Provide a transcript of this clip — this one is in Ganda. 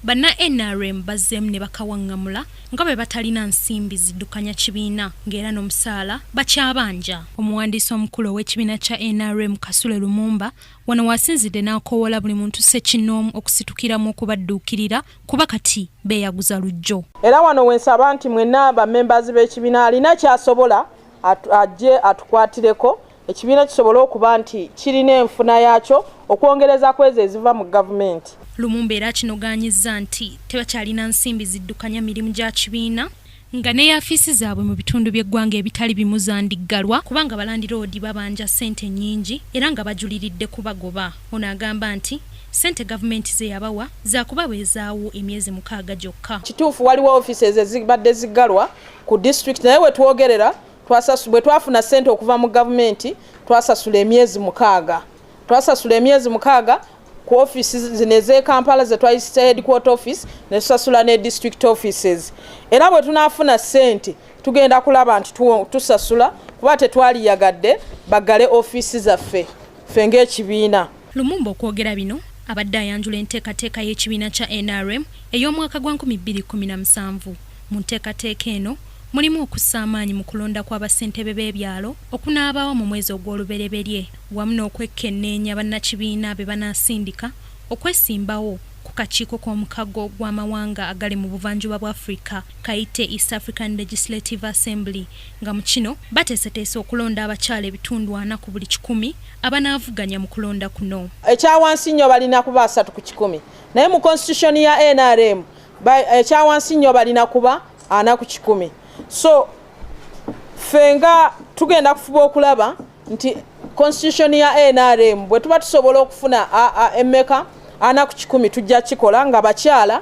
Banna nrm bazzeemu ne bakawaŋŋamula nga bwe batalina nsimbi ziddukanya kibiina ng'era n'omusaala bakyabanja. Omuwandiisi omukulu ow'ekibiina kya nrm Kasule Lumumba wano waasinzidde n'akoowoola buli muntu ssekinnoomu okusitukiramu okubadduukirira kuba kati beeyaguza luggyo. Era wano we nsaba nti mwenna bammembaazi b'ekibiina alina ky'asobola ajje atukwatireko ekibiina kisobole okuba nti kirina enfuna yaakyo okwongereza ku ezo eziva mu gavumenti. Lumumba era akinogaanyizza nti tebakyalina nsimbi ziddukanya mirimu gya kibiina nga ne yaafiisi zaabwe mu bitundu by'eggwanga ebitali bimu zandiggalwa kubanga balandiroodi babanja ssente nnyingi era nga bajuliridde kubagoba. Ono agamba nti ssente gavumenti ze yabawa zaakubabeezaawo emyezi mukaaga gyokka. Kituufu waliwo ofiisi ezibadde ziggalwa ku disitulikiti naye we twogerera twasasu bwe twafuna ssente okuva mu gavumenti twasasula emyezi mukaaga twasasula emyezi mukaaga ku office zino ez'ekampala ze twayisisa headquarter office ne tusasula ne district offices era bwe tunaafuna ssente tugenda kulaba nti tusasula kuba tetwaliyagadde baggale ofiisi zaffe ffe ng'ekibiina Lumumba okwogera bino abadde ayanjula enteekateeka y'ekibiina kya nrm ey'omwaka gwa 2017. Mu nteekateeka eno mulimu okussa amaanyi mu kulonda kwa bassentebe b'ebyalo okunaabaawo mu mwezi ogw'olubereberye wamu n'okwekkenneenya bannakibiina be banaasindika okwesimbawo ku kakiiko k'omukago gw'amawanga agali mu buvanjuba bwa Afrika kayite East African Legislative Assembly nga mu kino bateeseteese okulonda abakyala ebitundu ana ku buli kikumi abanaavuganya mu kulonda kuno. Ekyawansi nnyo balina kuba asatu ku kikumi naye mu constitution ya NRM ekyawansi nnyo balina kuba ana ku kikumi so ffe nga tugenda kufuba okulaba nti constitution ya nrm bwe tuba tusobola okufuna emmeka ana ku kikumi tujja kikola nga bakyala